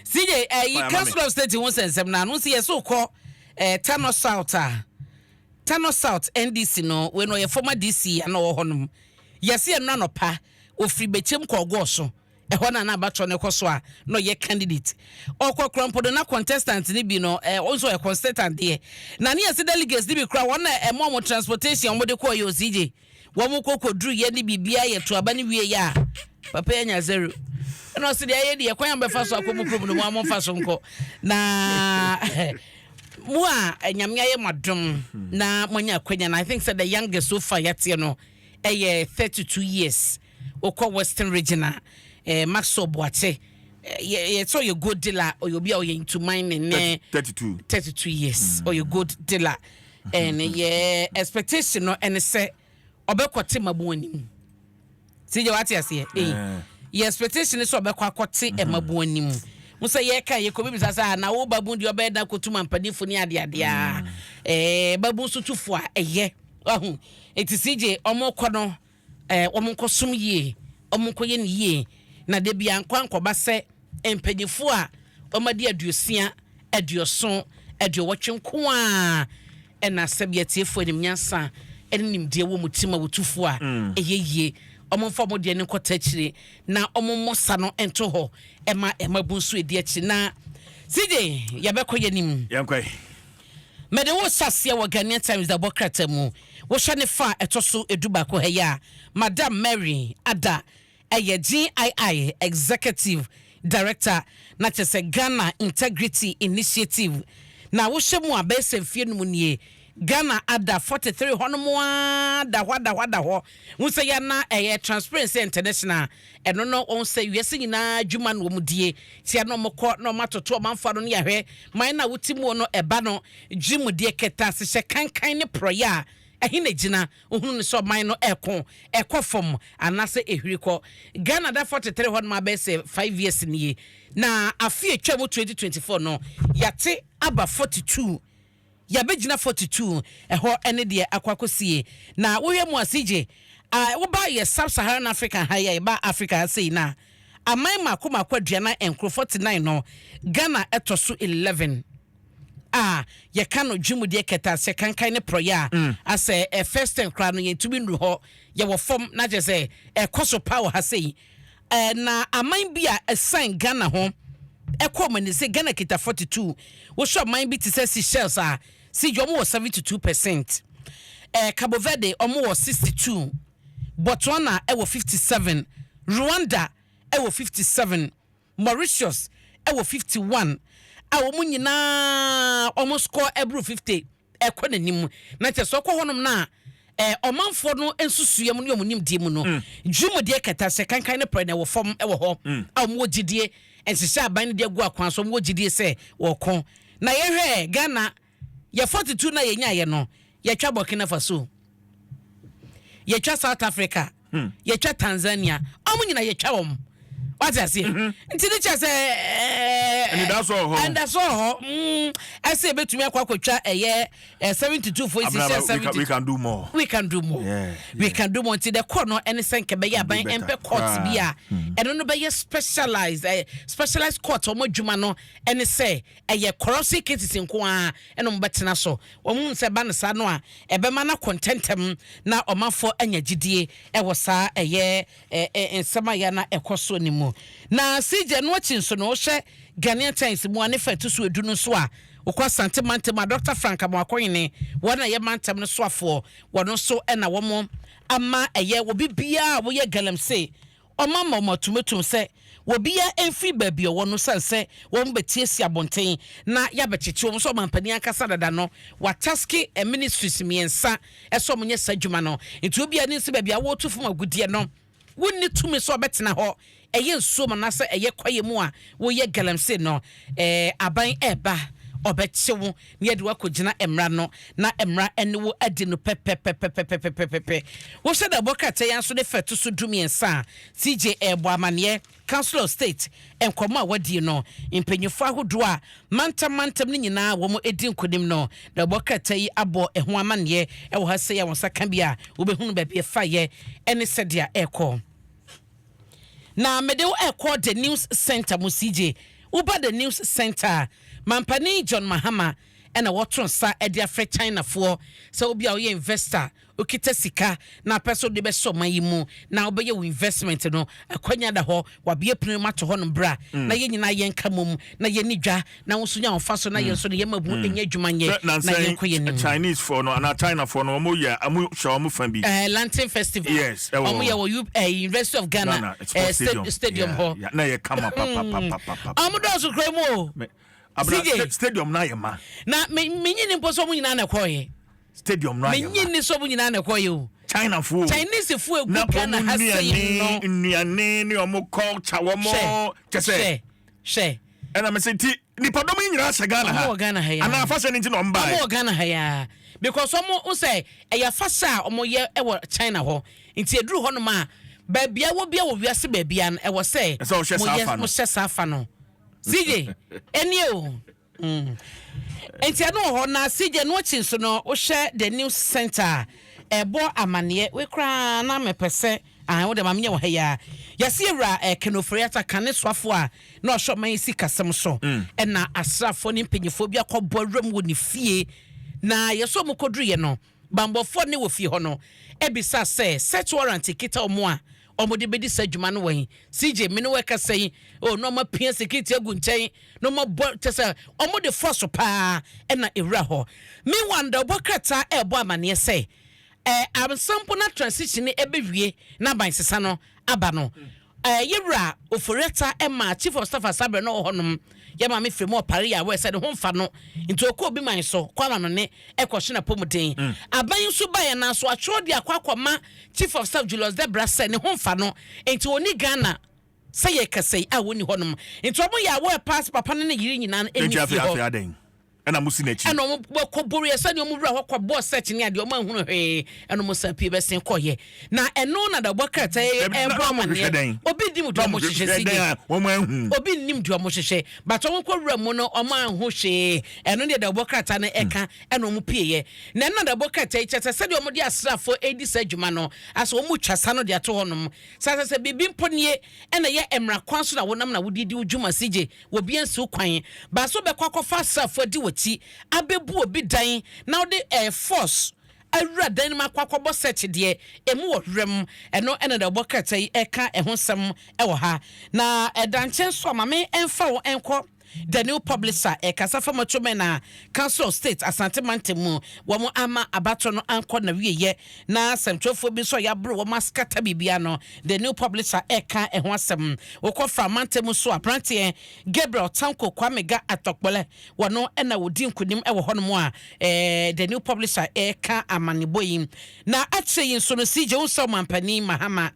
CJ, uh, eh, you can't stop stating one sense. Now, no, see, so called uh, eh, Tano South. Uh, Tano South NDC, no, when we former DC and all honum. Yes, and none of pa, or free bechem call go so. ɛhɔ na n'abatɔ no kɔ so a na ɔyɛ candidate ɔkɔ krampodo na contestant ni bi no ɛɛ ɔnso ɔyɛ contestant deɛ na ne yɛsɛ delegates ni bi kura wɔn na ɛmo ɔmo transportation ɔmo de kɔ yɛ osije wɔn kɔ kɔduru yɛ ne biribiara yɛ to aba no wieɛ a papa yɛ nya zero ɛna ɔse deɛ ayɛ deɛ kwan a mobɛfa so akɔ mu kurom no mo a momfa so nkɔ na mo a eh, nyame ayɛ mo adom na moanya akwanya no i think sɛ the youngest so far yɛateɛ no ɛyɛ 32 years wokɔ western region a eh, maxwell boakye yɛsɛ ɔyɛ gold dealer ɔyɛ obi a ɔyɛ ntuman ne ne 32 32 years ɔyɛ gold dealer And yɛ expectation no ɛne sɛ ɔbɛkɔte mmabun anim si gya wate aseɛ ee eh. yɛ expectation sɛ ɔbɛkɔ akɔte mm-hmm. mmabun anim mo sɛ yɛka yɛ kɔbi bisa sɛ na wo babun deɛ ɔbɛyɛ dan kɔtu mampanimfo ne adeadeɛ a ɛɛ mm. eh, babun so tufo a ɛyɛ wahu eti si gye ɔmo kɔ no Ɛɛ, wɔnkɔsom yie, wɔnkɔyɛ no yie, na da biara nkɔ ankɔba sɛ mpanyinfoɔ a wɔadi aduosia, aduoson, aduowɔtwe nko ara na sɛbi atiefoɔ anim nyansa ne nimdeɛ wɔ wɔn ti ma wɔtufoɔ a ɛyɛ yie. Wɔmfa wɔn deɛ no nkɔta akyire na wɔmmɔ sa no nto hɔ ma ɛma bu nso adi akyire. Na CJ, yɛbɛkɔ yɛn anim. Yɛnkɔ. Mede wo hyɛ aseɛ wɔ Ghanaian Times dabɔ krataa mu. Wohwɛ ne fa a ɛtɔ so du baako ha yi a, Madam Mary Ada yɛ GII Executive Director na kyerɛ sɛ Ghana Integrity Initiative. Na wohwɛ mu a, bɛyɛ sɛ mfeɛ num nie, Ghana ada 43 hɔnom ara da hɔ ada hɔ ada hɔ. Wohu sɛ yɛn na ɛyɛ Transparency International Ɛno no wɔn sɛ wiase nyinaa adwuma no wɔn die tia na wɔn kɔ na wɔn atoto wɔn amfa no ne yɛahwɛ man na wote muo no ɛba no gye mu deɛ kɛtɛasehyɛ kankan ne porɔeɛ a ɛhe na ɛgyina wohunu no sɛ ɔman no ɛko ɛkɔ fam anaasɛ ɛhwiri kɔ Ghana da 43 hɔ nom abɛyɛ sɛ 5 years nie na afe atwa mu 2024 no yɛate aba 42 Yɛabɛgyina forty two ɛhɔ ne deɛ akɔ akɔsie na wohwɛ mu a CJ a woba yɛ sub Saharan Africa ha yi a yɛba Africa ha sei no a aman mmaako mmaako aduanan nkoro forty nine no Ghana ɛtɔ so eleven a yɛka no dwemudeɛ kɛtɛaseɛ kankan ne porɔeɛ a mm. asɛ ɛ first ten koraa no yɛntumi nnuru hɔ yɛwɔ fam na kyerɛ sɛ ɛkɔ so paa wɔ ha sei Eh, na aman bi a ɛsan Ghana ho ɛkɔ ɔmo ani sɛ Ghana kita 42 wohyɛ ɔman bi te sɛ Seychelles a si gya ɔmo wɔ 72 percent eh, Cabo Verde ɔmo wɔ 62 Botswana ɛwɔ 57 Rwanda ɛwɔ 57 Mauritius ɛwɔ 51 a wɔn nyinaa wɔn score ɛboro 50. ɛkɔ n'anim na kyɛ sɛ ɔkɔ hɔnom no a eh, ɔmanfoɔ no nsusuiɛ mu ne wɔn nimdeɛ mu no mm. dwumadie kɛtɛ sɛ kankan ne prɛ na ɛwɔ fam wɔ hɔ mm. a wɔwɔ gyidie nhyehyɛ aban no de agu akwan so wɔwɔ gyidie sɛ wɔko na yɛhwɛ ghana yɛ 42 no a yɛnyaeɛ no yɛtwa burkina faso yɛtwa south africa hmm. yɛtwa tanzania ɔmo nyina yɛtwa wɔm wate aseɛ mhm. nti ne kyɛ sɛ ɛnidaso wɔ hɔ ɛnidaso wɔ hɔ ɛsɛ ebetumi akɔ akɔtwa ɛyɛ seventy two fo esi sɛ seventy we can do more we can do more we can do more nti dɛ kɔ no ɛne sɛ nkɛ bɛyɛ aban ɛmpɛ court bi a hmm. ɛno no bɛyɛ specialized ɛɛ specialized court wɔn adwuma no ɛne sɛ Ɛyɛ corruption cases nko ara na wɔbɛtena so. Wɔhunu sɛ ɛba no saa no a, ɛbɛma no akɔ ntɛmntɛm na ɔmanfoɔ anya gyidie wɔ saa ɛyɛ nsɛm a yɛ na ɛkɔ soɔ no mu. Na CJ, ɛno akyi nso no, wohwɛ Ghanaian Times mu a, ne fa ɛto so edu no nso a, wokɔ Asante mantam a, Doctor Frank Amoakohene, wɔn a ɛyɛ mantam no soafoɔ, wɔn nso na wɔn ama ɛyɛ obi biara a woyɛ galamsey Ɔma ma wɔn atumatum sɛ wɔbiaa ɛmfiri baabi ɔwɔ no sane sɛ wɔn bɛtiasia abonten na yɛabɛkyekye wɔn sɛ ɔmanpanin ankasa dada no wataske ministries mmiɛnsa sɛ wɔn nyɛ saa adwuma no nti obiaa nim sɛ baabi a wɔretu fam agudeɛ no wonni tumi sɛ ɔbɛtena hɔ ɛyɛ nsuom anaasɛ ɛyɛ kwaeɛ mu a woyɛ galamsey no ɛɛ aban ɛɛba ɔbɛkye wo na yɛde wo akɔgyina mmara no, na mmara ne wo adi no pɛpɛpɛpɛpɛpɛpɛpɛ. Wohyɛ da bɔ krataa yi ara nso ne fa ɛto so dumiɛnsa a CJ rebɔ amanneɛ, Council of State, nkɔmmɔ a wɔadie no, mpanyinfoɔ ahodoɔ a mantam mantam no nyinaa wɔadi nkonim no, na wɔbɔ krataa yi abɔ ɛho amanneɛ wɔ ha sei a wo nsa ka bi a wobɛhunu baabi ɛfaeɛ ne sɛdeɛ ɛrekɔ. na mede wo rekɔ The News Centre mu CJ. Woba The News Centre a, Mampanin John Mahama na wɔto nsa de afrɛ Chinafoɔ sɛ wobi a woyɛ investor, wokita sika na wopɛ sɛ wode bɛhyɛ ɔman yi mu na wobɛyɛ wo investment no, akwanya da hɔ, wɔabue pono yi mu ato hɔnom bra na yɛn nyinaa yɛnka mmom na yɛnni dwa na woso nya ɔfa so na yɛn so no yɛma bu ɛnyɛ adwuma nyɛ na yɛnkɔ yɛn nim. Chinese fɔ no anaa China fɔ no wɔn yɛ wɔn hyɛ wɔn fa bi. Ɛɛ Lantern Festival. Yes ɛwɔ hɔ. Wɔn yɛ wɔ U ɛɛ University of Ghana. Ghana ɛɛ stadium stadium hɔ. Yeah, yeah. Na yɛ kama papapapapa. Wɔn dɔɔso kura mu o. Abena stadium na yɛ ma. Na me me nyini mpo so wɔn nyinaa na ɛkɔɔ yɛ. stadium no ayɛ ma. Menye nniso mu nyinaa na ɛkɔɔeɛ o. China foɔ o. Chinese foɔ a ɛgu Ghana ha sei no. Na wɔn nnuane ne wɔn culture wɔn kyɛ sɛ. Hwɛ hwɛ. Ɛna mese nti nipadɔm yi nyinaa hyɛ Ghana ha. Wɔn wɔ Ghana ha yaa. Anaa afahyɛ no nti na wɔn baa. Wɔn wɔ Ghana ha yaa because wɔn ho sɛ ɛyɛ afahyɛ a wɔn yɛ wɔ China hɔ nti eduru hɔ nom a baabi a wɔ bia wɔ wiase baabi a ɛwɔ sɛ. Ɛsɛ wɔhyɛ saa afa no. Wɔhyɛ saa afa no. CJ ɛnie o. Nti ɛno wɔ hɔ na CJ ɛno akyi nso no wohwɛ the news center a ɛbɔ amaneɛ wei koraa na mepɛ sɛ ahan wode ma menyɛ wɔ ha yi ara yɛse awura eh, Ken Ofori-Atta kane soafoɔ a na ɔhwɛ ɔman yi sikasɛm so ɛna asraafoɔ ne mpanyifoɔ bi akɔbɔ awuram wɔ ne fie na yɛsɛ ɔmo kɔduruyɛ no Bammɔfoɔ ne wɔ fie hɔ no bisa sɛ search warrant kita wɔn a wɔde bɛdi saa dwuma no wɛn? CJ me ne wo ɛkasa yi oh na wɔapia security agu nkyɛn na wɔabɔ kyɛ sɛ wɔde force paa ɛna ɛwura hɔ. Meanwhile no dawubɔ krataa ɛrebɔ amaneɛ sɛ ɛɛ ansa mpo na transition no ɛbɛwie na abansesa no aba no Eh, ye wura Ofori-Atta ɛmaa Chief of Staff Asaberɛ no wɔ hɔ nom, yɛ maame firi mu ɔpare yɛ awɛ sɛ ne ho nfa no, nti ɔkɔ obi man so kɔ ama no ne ɛkɔ hye n'apɔmuden. Aban nso baeɛ nanso atwerɛ de akɔ akɔ ma Chief of Staff Julius Debra sɛ ne ho nfa no, nti ɔnni Ghana sɛ yɛ kasa yi a ɔnni hɔ nom, nti wɔn yɛ awɛ paa sɛ papa no ne yere nyinaa no nni fie hɔ. ɛna mo si n'akyi. Ɛna wɔn bɔ kɔ Boria sɛdeɛ wɔn wura hɔ kɔ bɔɔ search ne adeɛ wɔn ahunu hwee ɛna wɔn san pie bɛsen kɔ yɛ na ɛno na dabɔ krataa yɛ ɛbɔ amaneɛ obi nim deɛ wɔn hyehyɛ si deɛ wɔn ahu obi nim deɛ wɔn hyehyɛ bàtɔ wɔn kɔ wura mu no wɔn ahu hwee ɛno deɛ dabɔ krataa no ɛka ɛna wɔn pie yɛ na ɛna dabɔ krataa yi kyɛ sɛ sɛdeɛ wɔn de asrafo edi sɛ adwuma no asɛ wɔn twa sa no de ato hɔ nom sasasɛ biribi mpo nie ɛna yɛ mmara kwan so na wɔnam na wɔde di dwuma si gye Obi ansiw kwan. Baasa ɔbɛkɔ akɔfa asraafo adi w'akyi abebu obi dan na wode air force awura dan no mu akɔ akɔbɔ search deɛ emu wɔ werɛm. Ɛno na deɛ ɔbɔ krataa yi ɛka ɛho nsɛm ɛwɔ ha. Na ɛda nkyɛn nso a ma me ɛmfa wo ɛnkɔ The New Public a ɛkasa fa Macho Men a Council of State Asante Mantam mu wɔn ama abatoɔ no ankɔ nawieyɛ na sɛmtwerɛfoɔ bi nso a yɛaboro wɔn askata biribiara no The New Publisher reka ɛho asɛm. Wokɔ Fra mantam nso a, aberanteɛ Gabriel Tanko Kwame Ga Atɔkpɔlɛ, wɔno na wɔdi nkonim wɔ hɔnom a The New Publisher reka amanebɔ yi. Na akyire yi nso no, CJ Unsah Ɔmanpanin Mahama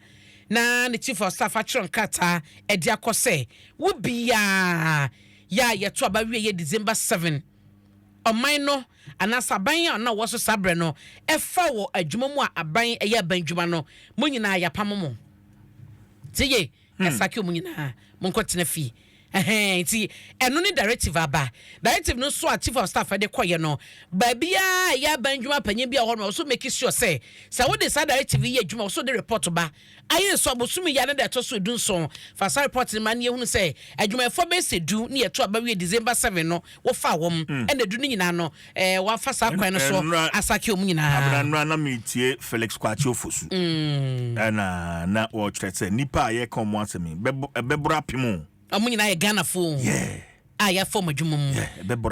na ne Chief of Staff atwerɛ nkrataa de akɔ sɛ, wo biara, yɛ a yɛto aba awieeɛ December 7, ɔman no anaasɛ aban a na ɔwɔ so saa berɛ no fa wɔ adwuma mu a aban ɛyɛ aban adwuma no, mo nyinaa yɛapamo mo. Tie yie, yɛasake wɔn nyinaa, monkɔtena fie. Ɛhɛn, nti ɛno ne directive a aba. Directive no nso a Chief of Staff de kɔeɛ no, baabiara a ɛyɛ aban adwuma panyin bi a ɔwɔ hɔ no, ɔwɔ so make sure sɛ, sɛ wode saa directive yi yɛ adwuma, ɔwɔ so wode report ba Ayɛ nso abosome yi anadɛ ɛtɔ so dunson. Fasa report no ma no yɛhunu sɛ adwumayɛfoɔ bɛyɛ sɛ du ne yɛto aba wie December seven no wɔfaa wɔn ɛna du no nyinaa no wɔafa saa kwan no soɔ asake wɔn nyinaa. Nnora na meretie Felix Kwakye Ofosu ɛna na ɔrekyerɛ sɛ nnipa a yɛreka wɔn asɛm yi bɛboro apem o. Ɔmo nyinaa yɛ Ghanafo o a yɛafa ɔmo adwuma mu.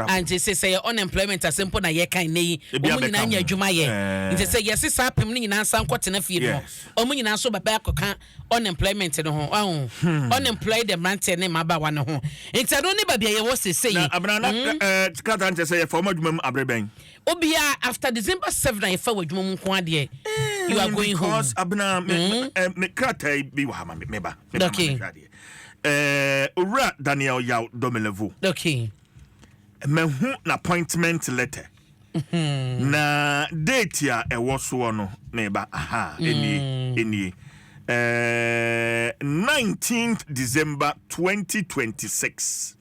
Ah nti se sɛ yɛ unemployment ase mpo na yɛka nnɛ yi, ɔmo nyinaa nya adwuma yɛ. Nti sɛ yɛse saa apem no nyinaa nsan nkɔ tena fie no, ɔmo nyinaa nso bɛba akɔka unemployment no ho. Wahu? Unemployed mmeranteɛ ne mmabaawa no ho. Nti ɛno ne baabi a yɛwɔ seesei yi. Na Abena, na eh, krataa no kyerɛ sɛ yɛfa ɔmo adwuma mu abere bɛn? Obiara after December 7 a yɛfa wɔ adwuma mu nko ara deɛ you are going home. Because Abena, me, mm. me, eh, me krataa bi wɔ ha ma me, meba. Meba okay. ma mehwɛ adeɛ. Eh, Owura Daniel Yaw Domelevo. Okay. Mahu n'appointment letter. Mm-hmm. Na date a ɛwɔ soɔ no meba aha ɛnie mm. ɛnie. Uh, eh, 19th December 2026.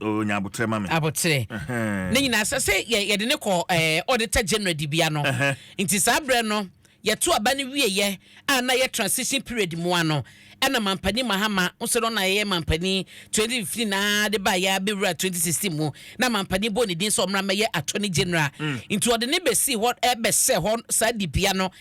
Oh, nya abotrɛ ma me. Abotrɛ. Ne nyinaa sɛ sɛ yɛde ne kɔ ɛɛ auditor general dibea no. Nti saa berɛ no yɛto aba no wieɛ a na yɛ transition period mu a no ɛna Mampanin Mahama nso no na yɛyɛ Mampanin 2015 aa de ba yɛ abɛwura 2016 mu na Mampanin bɔ ne din sɛ ɔmmra mmɛyɛ Attorney General. Nti ɔde ne bɛsii hɔ ɛbɛhyɛ hɔ saa dibea no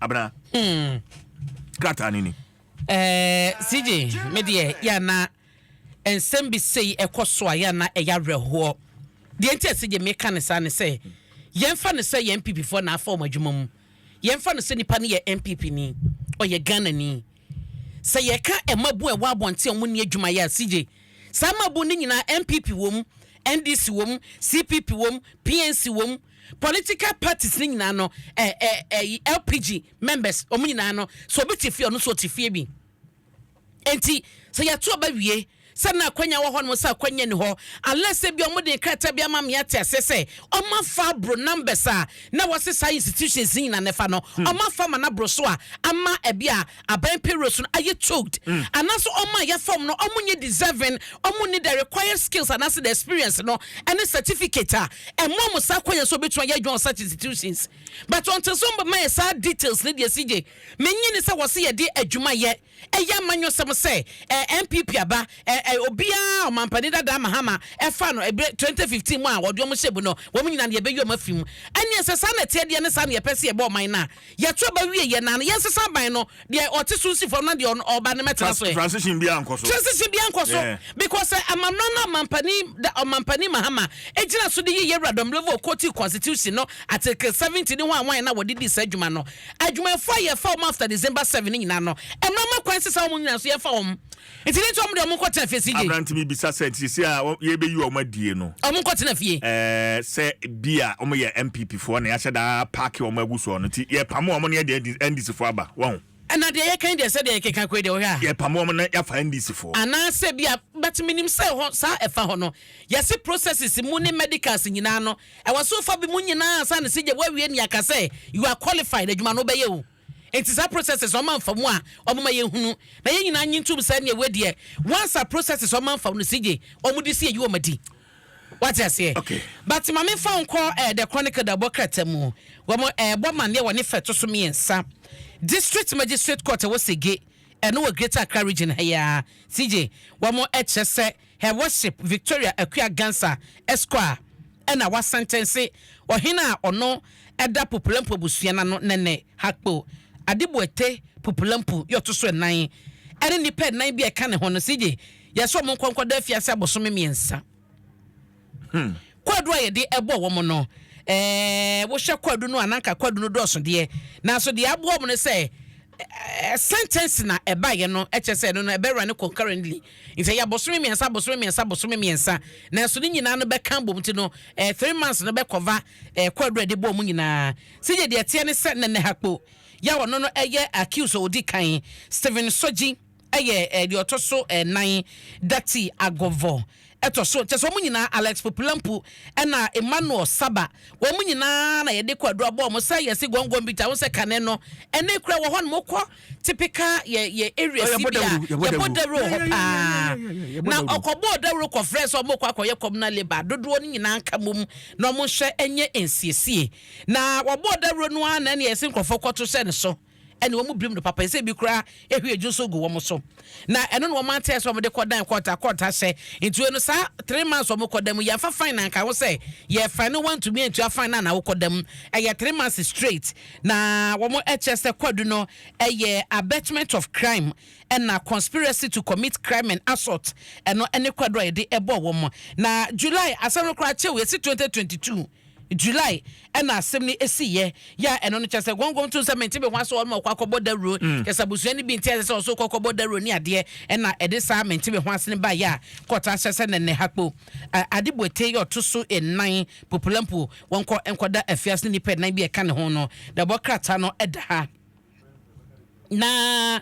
Abena. Hmm. Krataa no ni. Eh, CJ, me deɛ yɛ na nsɛm bi sei ɛkɔ so a yɛ na ɛyɛ awerɛhoɔ. Deɛ nti a CJ meka ne saa ne sɛ yɛmfa no sɛ yɛn NPP foɔ na afa wɔn adwuma mu. Yɛmfa no sɛ nipa no yɛ NPP ni, ɔyɛ Ghana ni. Sɛ yɛka mmabun a ɛwɔ abɔnten a wɔn ni adwuma yɛ a CJ, saa mmabun no nyinaa NPP wɔ mu, NDC wɔ mu, CPP wɔ mu, PNC wɔ mu. political parties ne nyinaa no eh, eh, eh, lpg members ɔmo nyinaa no sɛ obi te fie ɔno nso ɔte fie bi nti sɛ yɛto ɔba wie sɛ na akwanya wɔ hɔ nom sɛ akwanya ni hɔ unless sɛ bi ɔmo de nkrataa bi ama me ate ase sɛ ɔmo afa aboro numbers a na wɔse saa institutions ne nyinaa na ɛfa no ɔmo afa ma no aboro so a ama ɛbi a aban payrolls no ayɛ choked mm. anaasɛ ɔma yɛ fam no ɔmo nyɛ deserving ɔmo ne the required skills anaasɛ the experience no ɛne certificate a ɛmo ɔmo saa kwan yɛ so obetuma yɛ adwuma wɔ such institutions but ɔnte so mbɛ ma yɛ saa details ne deɛ si gye menyi ne sɛ wɔsi yɛ de adwuma yɛ ɛyɛ amanyɔsɛm sɛ ɛɛ npp aba ɛɛ eh, eh, obiara ɔmampanin dada mahama ɛfa no ɛbɛ twenty fifteen mu a wɔde wɔn hyɛ bu no wɔn nyinaa yɛ bɛyi wɔn afi mu ɛnneɛ sɛ saa na ɛteɛ deɛ ne saa na yɛpɛ sɛ yɛbɔ ɔman no a Yɛto aba wie yɛ na no yɛnsesa aban no deɛ ɔte so nsi fam na deɛ ɔba no mɛtena so ɛ. Transition biara nkɔ so. Transition biara nkɔ so because sɛ amammerɛ no ɔmampanin da ɔmampanin Mahama gyina so de yi Yawura Domblevore quoting constitution no article seventy ne hwan hwan na wɔde dii saa adwuma no. Adwumayɛfoɔ a yɛfa wɔn after December seven no nyinaa no mmra mma kwan nsesa wɔn nyinaa so yɛmfa wɔn Nti ne nti wɔn deɛ wɔn nkɔ tena fie si gye. Aberante bi bisa sɛ nti sisi a yɛbɛyi wɔn adie no. Wɔn nkɔ tena fie. Ɛɛ sɛ bi a wɔn yɛ NPP foɔ na yɛahyɛ daa paaki wɔn agu soɔ no nti yɛpamo wɔn na yɛde NDC foɔ aba wɔn ho. Ɛna deɛ yɛka yi deɛ sɛ deɛ yɛkeka kɔ yi deɛ wohwɛ a. Yɛpamo wɔn na yɛafa NDC foɔ. Anaa sɛ bi a but menim sɛ hɔ saa ɛfa hɔ no yɛsi processes mu ne medicals nyinaa no ɛwɔ so fa bi mu nyinaa ansa na si gye woawie ne yɛaka sɛ you are qualified adwuma no wobɛyɛ o. Enti saa processes ɔma nfamu a ɔmo ma yɛn hunu na yɛn nyinaa nye ntum sɛ nea wei deɛ once a processes ɔma nfa no sigye ɔmo de si ayi ɔmo adi wate aseɛ okay. but ma me fa nkɔ eh, the chronicle da bɔ krata mu wɔn eh, bɔ maneɛ wɔ ne fɛ to so mmiɛnsa district magistrate court ɛwɔ sege ɛno wɔ greater accra region ha yi ara sigye wɔn ɛkyerɛ sɛ Her Worship Victoria Akua Gansa, Esquire, na wɔasɛntɛnse ɔhene a ɔno da Pupulampu abusua no ano nnɛ nnɛ, Hakpo Adeboate Pupulampu, yɛ ɔto so nnan, ne nnipa nnan bi a ɛka ne ho no, Sigye Yɛsɛ wɔn nkɔ nkɔda afiase abosome mmiɛnsa. Hmm. Kwadu a yɛde ɛbɔ wɔn no, ɛɛ wohwɛ kwadu no a nanka kwadu no dɔɔso deɛ, nanso deɛ aboa wɔn no sɛ ɛɛ sentence na ɛbaeɛ no ɛkyɛ sɛ ɛno no ɛbɛwura no concurrently nti ɛyɛ abosome mmiɛnsa abosome mmiɛnsa abosome mmiɛnsa nanso ne nyinaa no bɛka bom ti no ɛɛ three months no bɛkɔva ɛɛ kwadu a yɛde bɔ wɔn nyinaa sɛ yɛ deɛ ɛteɛ ne sɛ nɛnɛ hakpo yɛ a ɔno no ɛyɛ accuse a ɔdi kan Stephen Sogye. yɛ deɛ ɔtɔ so nnan, Dati Agovho tɔ so, kyɛ sɛ wɔn nyinaa, Alex Popilampu ɛna Emmanuel Saba, wɔn nyinaa na yɛde kɔ aduro abɔ wɔn sɛ yɛsi gɔngɔn bi ta, wɔn sɛ kane no, ɛne kura wɔ hɔ nom kɔ tipika yɛ yɛ area si bi a yɛbɔ dawuro hɔ paa, na ɔkɔbɔ dawuro kɔfrɛ sɛ wɔn kɔ akɔyɛ communal labour dodoɔ no nyinaa nka mom na wɔn nhyɛ nyɛ nsiesie, na wɔbɔ dawuro no ara na ɛna yɛsi nkorɔfoɔ kɔto hyɛ ne so. ɛne wɔn birim no papa, ɛsɛ ebi koraa ehwie dwo nso gu wɔn so, na ɛno na wɔn ante sɛ wɔde kɔ dan kɔɔta kɔɔta hyɛ ntua no saa three months wɔn kɔ dan mu yɛnfa fine na nka ho sɛ yɛ fine no wɔntumi ntua fine na na wokɔ dan mu ɛyɛ three months straight na wɔn ɛkyɛ sɛ kwadu no ɛyɛ abetment of crime ɛna conspiracy to commit crime and assault ɛno ɛne kwadu a yɛde ɛbɔ wɔn na July asɛm no koraa kyɛw yɛsi twenty twenty two. July ɛna asɛm no esi yɛ yɛ a ɛno no kyɛ sɛ gɔngɔn to nsɛm mente me ho asɔ ɔma ɔkɔ akɔbɔ dawuro kyɛ sɛ abusua no bi nte asɛ sɛ ɔso kɔ kɔbɔ dawuro ne adeɛ ɛna ɛde saa mente me ho ase no baeɛ a kɔɔta ahyɛ sɛ nɛnɛ ha kpo ade boete yɛ ɔto so nnan popolampo wɔnkɔ nkɔda afiase ne nnipa nnan bi a ɛka ne ho no na ɛbɔ krataa no ɛda ha. Na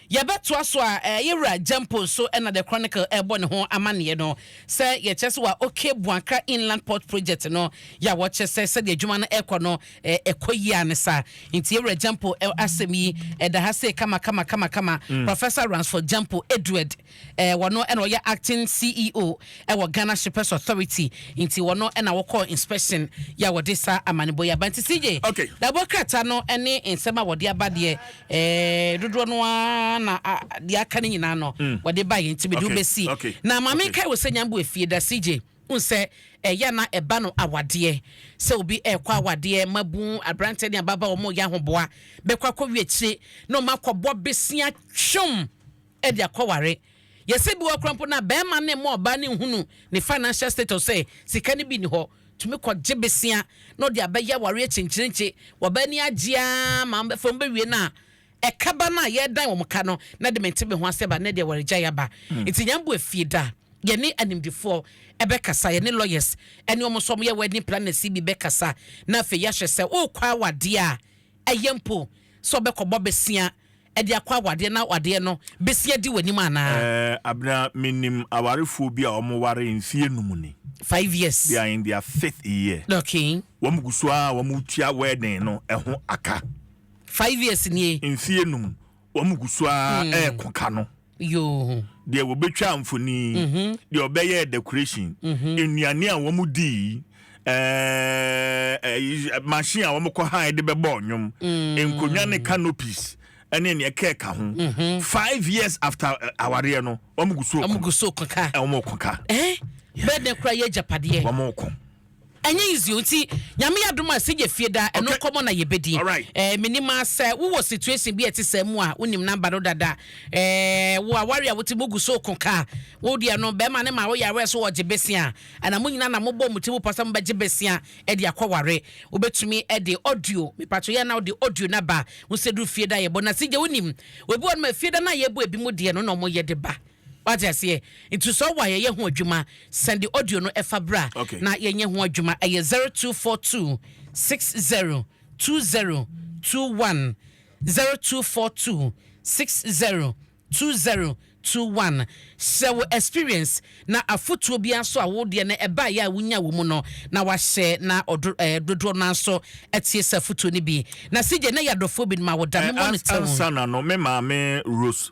yɛbɛtoa so a eh, yɛwura Gyampo nso na The Chronicle ɛrebɔ ne ho amanneɛ no sɛ yɛkyɛ sɛ wa okay Buankra Inland Port Project no yɛ a wɔkyɛ sɛ sɛdeɛ adwuma no ɛkɔ no eh, ɛkɔ yie a ne saa nti yɛwura Gyampo eh, asɛm yi ɛda ha sei kama kama kama kama mm. Professor Ransford Gyampo Edward Wɔno na ɔyɛ acting CEO wɔ Ghana Shippers Authority nti wɔno na wɔkɔɔ inspection yɛ a wɔde saa amanebɔ yi aba nti CJ dabɔ krataa no ne nsɛm a wɔde aba deɛ dodoɔ no ara na deɛ aka no nyinaa no wɔde baeɛ nti mede wo bɛsi na ma menkae wo sɛ Nyambo Afie da CJ wohu sɛ ɛyɛ a na ɛba no awadeɛ sɛ obi ɛrekɔ awadeɛ mabu aberanteɛ ne ababa wɔn yɛ ahoboa bɛkɔ akɔwie akyire na wɔn akɔbɔ besia twom de akɔware. Yɛsɛ bi wɔ hɔ koraa mpo no a bɛɛma no mma ɔbaa no nhunu ne financial status sɛ sika no bi nni hɔ, tumi kɔ gye besia na ɔde abɛyɛ awareɛ kyenkyerenkye, wɔbaa ni agye aa ma wɔn bɛfa wɔn bɛwie no a ɛka ba no a yɛɛdan wɔn ka no na de mente me ho asɛ ba nnɛ deɛ awaregyaeɛ aba. Nti nyɛ mbo afie da. Yɛne animdefoɔ bɛkasa, yɛne lawyers ne wɔn nso wɔn yɛ wedding planners yi bi bɛkasa na afei yɛahwɛ sɛ worekɔ awadeɛ a ɛyɛ mpo sɛ ɔbɛkɔbɔ besia, de akɔ awadeɛ na awadeɛ no bɛsi adi w'anim anaa? Ɛɛ, Abena, menim awarefoɔ bi a wɔwaree mfeɛ num ni. Five years. They are in their fifth year. Okay. Wɔn gu so ara a wɔretua wedding no ho aka. Five years nie. Mfeɛ num, wɔn gu so ara reko ka no. Yoo. Deɛ wɔbɛtwaa mfoni, deɛ ɔbɛyɛɛ decoration, nnuane a wɔn dii, ɛɛ machine a wɔn kɔ han de bɛbɔ ɔnwom, nkonnwa ne canopies ɛne nea ɛkɛ ka ho. Five years after awareɛ no, wɔn gu so kɔ. Wɔn gu so kɔ ka. Wɔn kɔ ka. Bɛɛ dɛ kura yɛ agyapadeɛ. Wɔn kɔ. Ɛnyɛ easy o nti Nyame adom a sɛ yɛ fie daa ɛno nkɔmɔ na yɛbɛdi. Eh, menim a sɛ wo wɔ situation bi a ɛte saa mu a wo nim number no dada. Eh, wo aware a wote mu gu so ko ka. Wo deɛ no bɛrima no ma wo yareɛ so ɔgye besia. Ɛna mo nyina na mo bɔ mo ti mu pɔ sɛ mo bɛgye besia ɛde akɔ ware. Wo bɛtumi ɛde audio, me patwo yɛ na wo de audio no aba. Wo sɛ duru fie da yɛbɔ na sɛ gye wo nim. Obi wɔ nom a fie da no a yɛbɔ ebi mo deɛ no na ɔmo yɛ de ba. Wate aseɛ? Nti sɛ ɔwɔ a yɛyɛ ho adwuma sɛn de audio no ɛfa bra okay. na yɛnyɛ ho adwuma ɛyɛ 0242 60 2021 0242 60 2021 hyɛ wo experience na afotuo biara nso a wo deɛ no ɛbaeɛ a wonya wɔ mu no na wahyɛ na ɔdo ɛɛ eh, dodoɔ no nso atie sɛ afotuo no bi na sigye na yɛ adɔfoɔ bi no ma wɔda no mɔ no tɛw. ansa na no me maame Rose